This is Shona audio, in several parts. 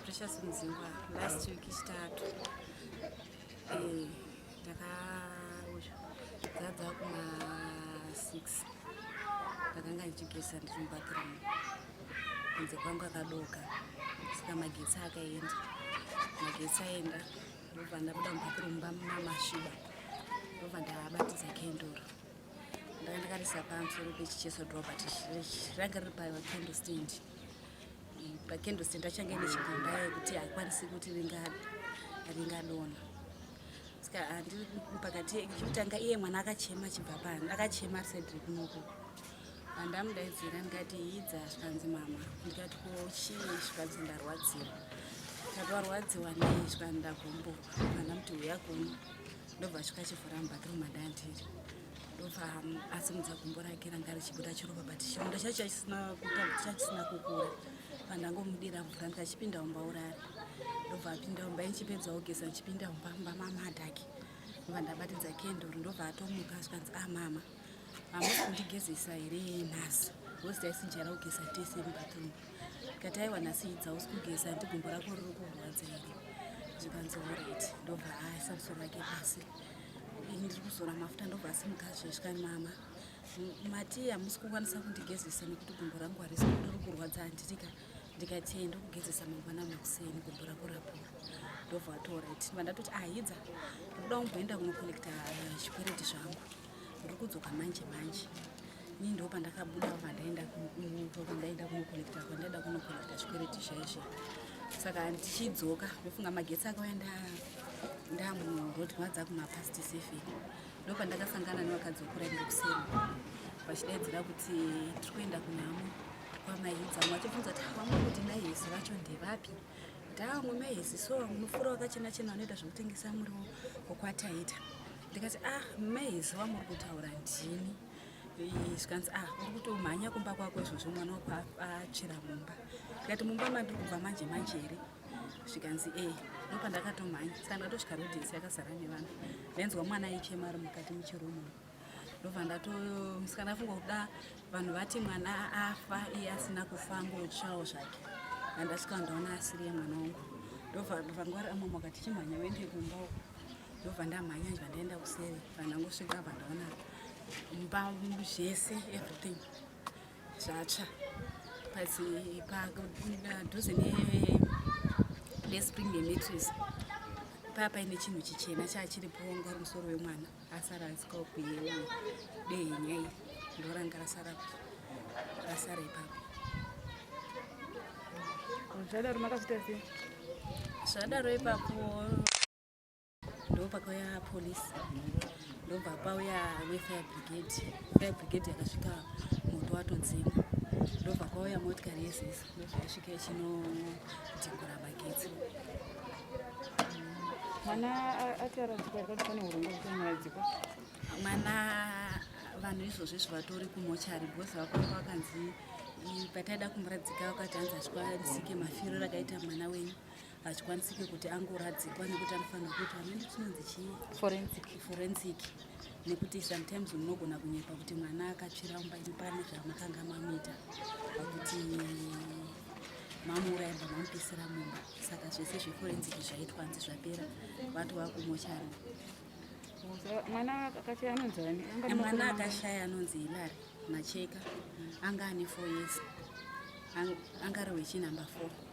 Precious Mzingwa last week chitatu eh ndakauya dzadza kuma 6 ndakanga ndichigeza ndiri mubathroom kunze kwangu akadoka saka magetsi akaenda magetsi aenda ndobva ndabuda mubathroom bamamashuba ndobva ndabatidza kendoro ndanga ndakarisa pamusoro pechicheso drobert ranga riri payo kendle stand Pakendo senda change nechigumba yekuti haikwanisi kuti ringadona saka handi pakati chekutanga iye mwana akachema chibva pano akachema sedri kunoko andamudaidzira ndikati hidza zvikanzi mama ndikati ko chii zvikanzi ndarwadziwa ndati warwadziwa nei zvikanzi ndagumburwa andamuti huya kuno ndobva svika chivhura mubathroom andandiri ndobva asimudza gumbo rake ranga richibuda chiropa but chironda chacho chachisina kukura pandangomudira mvura ndikachipinda umba urari ndobva apinda umba ichipedza ogeza ndichipinda umba mba mamadhake ndobva ndabatidza kenduru ndobva atomuka zvikanzi a ah, mama hamusi kundigezesa here nhasi hozi taisinjara kugeza tese mubathroom ndikati aiwa nhasi idza usi kugeza ndigumbo rako riri kurwadza here zvikanzi orit ndobva aisa musoro wake pasi ndiri kuzora mafuta ndobva asimukazve zvika mama mati hamusi kukwanisa kundigezesa nekuti gumbo rangu harisi kudiri kurwadza handirika ndikati ndokugezesa mangwana makuseni gumbo rako rapora ndobva atorit vandatoti ahidza ndikuda kumboenda kunokolekta eh, chikwereti zvangu ndiri kudzoka manje manje Ni ndo pandakabuda pandaenda pandaenda kunokolekta kwandaida kunokolekta zvikwereti zvaizvo saka ndichidzoka ndofunga magetsi akauya ndamuroad mwadza kumapast seven ndo pandakasangana nevakadzi vekuraira kuseni vachidaidzira kuti tiri kuenda kunhamo kwamaidza mwachibvunza kuti vamwe kuti maihesi vacho ndevapi kuti amwe maihesi so munofura wakachena chena vanoita zvekutengesa muriwo wokwataita ndikati ah maihesi wamuri kutaura ndini zvikanzi ah uri kutomhanya kumba kwako izvozvo mwana wako achera mumba ndikati mumba mandiri kubva manje manje here zvikanzi e ndopandakatomhanya saka ndatosvika rodinsi yakazara nevanhu ndainzwa mwana aichema ari mukati muchirumu ndobva ndatomusika ndafunga kuda vanhu vati mwana afa iye asina kufa angotsvawo zvake andasvika ndaona asiriye mwana wangu ndobva vangwari amwe makati chimhanya uende kumba uko ndobva ndamhanya nje vandaenda kuseri vandangosvika vandaona mbamu zvese everything zvatsva padhuze nespring nemetris paya paine chinhu chichena chaa chiri ponga uri musoro wemwana asara asikawo kuyewa dehenya iri ndoranga rasara rasara ipapo zvadaro makazvitasei zvadaro ipapo ndopakauya police ndobva pauya wefire brigade fire brigade yakasvika moto watodzima ndobva kwauya motikari yesis ndobva yasvika ichinodhingura magetsi mwana ataradzikwa yakati pane hurongwa kutomuradzikwa mwana vanhu izvozvo izvo vatori kumochari because vakuva vakanzi pataida kumuradzika vakati hanzi achikwarisike mafiro rakaita mwana wenyu hachikwanisike kuti angoradzikwa nekuti anofanira kuitwa amene tinonzi chii forensic forensic nekuti sometimes munogona kunyepa kuti mwana akatsvira mumba imi pane zvamakanga mamuita kuti mamuuraya mba mamupisira mumba saka zvese zveforensic zvaitwa nzi zvapera vati vakumochana mwana akashaya anonzi ani mwana akashaya anonzi hilari macheka anga ane four years anga ari wechinumber four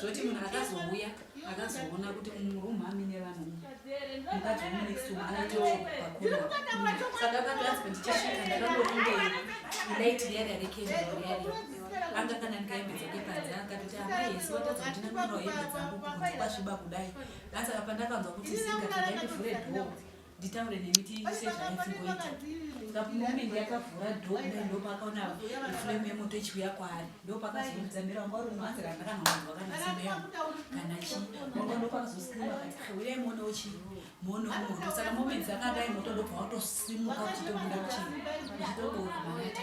zvoti munhu akazouya akazoona kuti murum amine vanhu mukadzi wemunexum aitoakuasaka akatoanzi ndichisvika ndakangoringe light riyaria rekeari anga kana ndikaembe dzake panze akatoti amai hesi watadza kuti ndinorawo embe dzangu kunzi kwasviba kudai asaka pandakanzwa kuti singa ndikaendivhure dhoo nditaure nemi tiise zvaizimboita kapumovement yakavhura dho kudai ndo paakaona iflame yemoto ichiuya kwaari ndo pakazoudza mira wanga uri mwanzi kana ndakanhomwanzi wakanasimeyo kana chii wanga ndo pakazoskrima kati kheuyai muone uchii muone moto saka moment dzakadai moto ndobva watosimuka uchitobuda uchii uchitoboora manata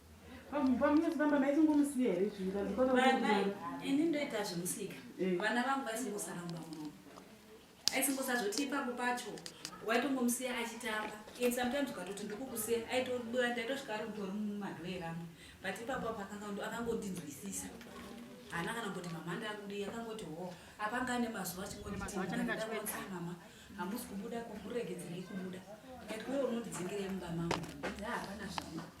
pamunozifamba maisingomusiya here zviaai ini ndoita zvemusika eh. vana vangu vaisingosaramba muno aisingosazoti ipapo pacho waitongomusiya achitamba and sometimes ukatoti ndikukusiya aitobura ndaitosvika ari kutori mumadhoera amwe but ipapo apo akangondinzwisisa haana kana kuti mama ndakudi akangoti ho apanga ane mazuva achingonditiaai mama hamusi kubuda kuregedzerei kubuda ati uye unondidzingira mumba mangu hapana zvaa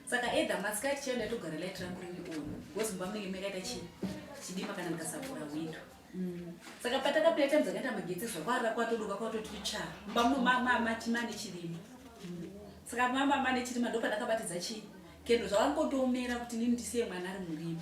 saka edha masikati chaiyo ndatogara light rangu riri on because mumba munenge makaita chii chidima kana ndikasavhura windo mm. saka patakapira time dzakaita magetsi zvakwara kwatoduka kwatoti tsva mumba muno mamatima nechirima mm. saka mamama nechirima ndo pandakabatidza chii kendo zvavangotoomera kuti nini ndisiye mwana ari murima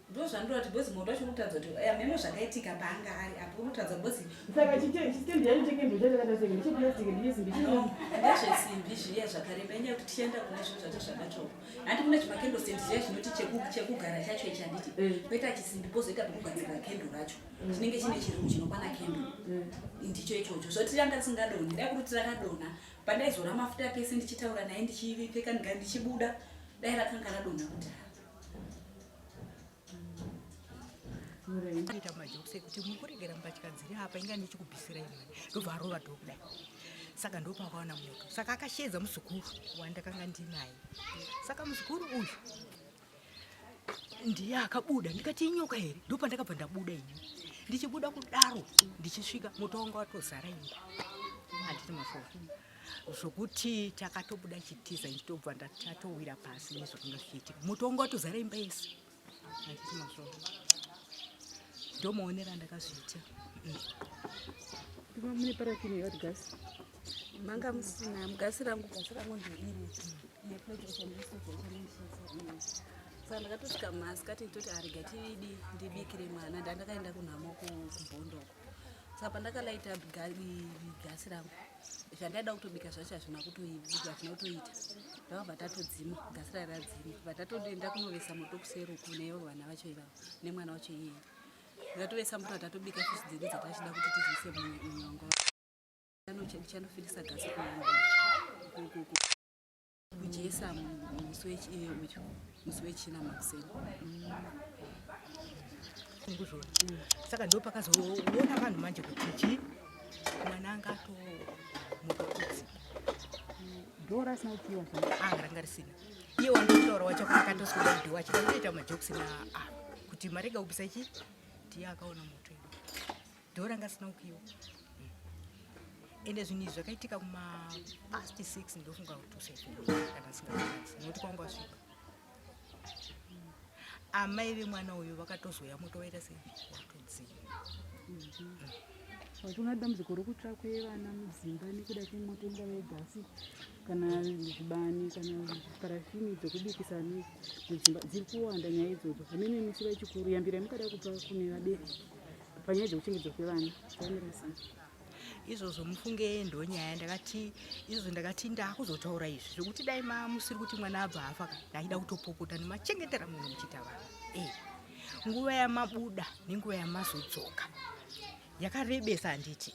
ndozvandinoda kuti bozi moto wacho unotadza kuti eh, memo zvakaitika paanga ari apo unotadza bozi saka chitendi yacho chenge ndochakadasenge ndicheplastic ndiyesimbi ndezvesimbi zviya zvakareba inyaya kuti tichaenda kune zvinhu zvacho zvakachoko handi kune chimakendosenti zviya chinoti chekugara chacho ichi handiti eh. koita chisimbi pozoita pekugadzirira kendo racho mm. chinenge chine chirungu chinokwana kendo mm. ndicho ichocho zvoti ranga tisingadoni dai kuti tirakadona pandaizora mafuta pese ndichitaura naye ndichipfeka ndichibuda dai rakanga radona kudhara ita majokisi ekuti muri kuregera mbatya dziri apa inga ndichikubvisira imwe ndobva arova dho kudai saka ndopakaona moto saka akasheedza muzukuru wandakanga ndinaye saka muzukuru uyu ndiye akabuda ndikati inyoka here ndopandakabva ndabuda ini ndichibuda kudaro ndichisvika moto wanga watozara imba handiti mafoni zvokuti takatobuda chitiza ndichitobva ndatowira pasi nezvakanga zvichiitika moto wanga watozara imba yese anditi mazvoo ndomaonera ndakazviita iva mune parafini yewat gas manga musina mugasi rangu gasi rangu ndoiri saka ndakatosvika masikati nditoti arega tidi ndibikire mwana ndandakaenda kunhamo kubhondoko saka pandakalaita gasi rangu zvandaida kutobika zvacho hazvina kutoibika hazvina kutoita ndakabva tatodzima gasi rai radzima bva tatoenda kunovesa moto kuseruku nevo vana vacho ivavo nemwana wacho iyeye ndatovesa moto atatobika fishi dzedu dzatachida kuti tizise munyongo ndichanofirisa gasi kunyongo kujesa musi wechina makuseni kuzvona saka ndo pakazoona vanhu manje kuti chii mwana anga atomuka kutsi dora asina kupiwa anga ranga risina iye wandokutaura wacho akatoswira mudhiwa achida kutoita majokisi na a kuti marega kupisa chii tiye akaona moto Dho ranga risina kukiwa. Ende zvinhu izvi zvakaitika kuma past six ndofunga kuti usafe kana singaanzi nokuti kwanga wasvika. Amai vemwana uyu vakatozouya moto waita sei watodzima. Wati una dambudziko rokutsva kwevana mudzimba nekuda kwemoto ingava yegasi kana zvibani kana parafini dzokubikisa ne- mudzimba dziri kuwanda nyaya idzodzo hameno imisiva chikuru yambira yamukada kupa kune vabereki panyaya dzekuchengetedzwa kwevana zvamirisa izvozvo mufunge ndonyaya ndakati izvozvo ndakati ndakuzotaura izvi zvekuti dai mamusiri kuti mwana abva afa ka ndaida kutopopota nemachengetera munhu muchiita vana e eh, nguva yamabuda nenguva yamazodzoka yakarebesa handiti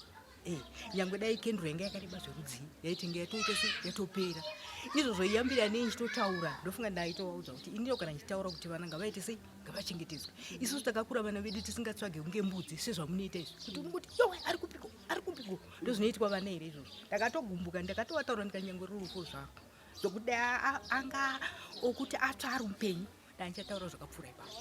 Eh, nyangwe dai kendro yanga yakareba zverudzii yaitenge yatoita se yatopera izvozvo iyambira nei ndichitotaura ndofunga ndaitovaudza kuti inio kana ndichitaura kuti vana ngavaite sei ngavachengetedzwe isusu takakura vana vedu tisingatsvage kunge mbudzi sezvamunoita izvi kuti unongoti yowe ari kupiko ari kupiko ndozvinoitwa vana here izvozvo ndakatogumbuka ndakatovataura ndikanyangwe rurufu zvako zvokuti anga okuti atsva ari upenyu ndandichataura zvakapfuura ipapo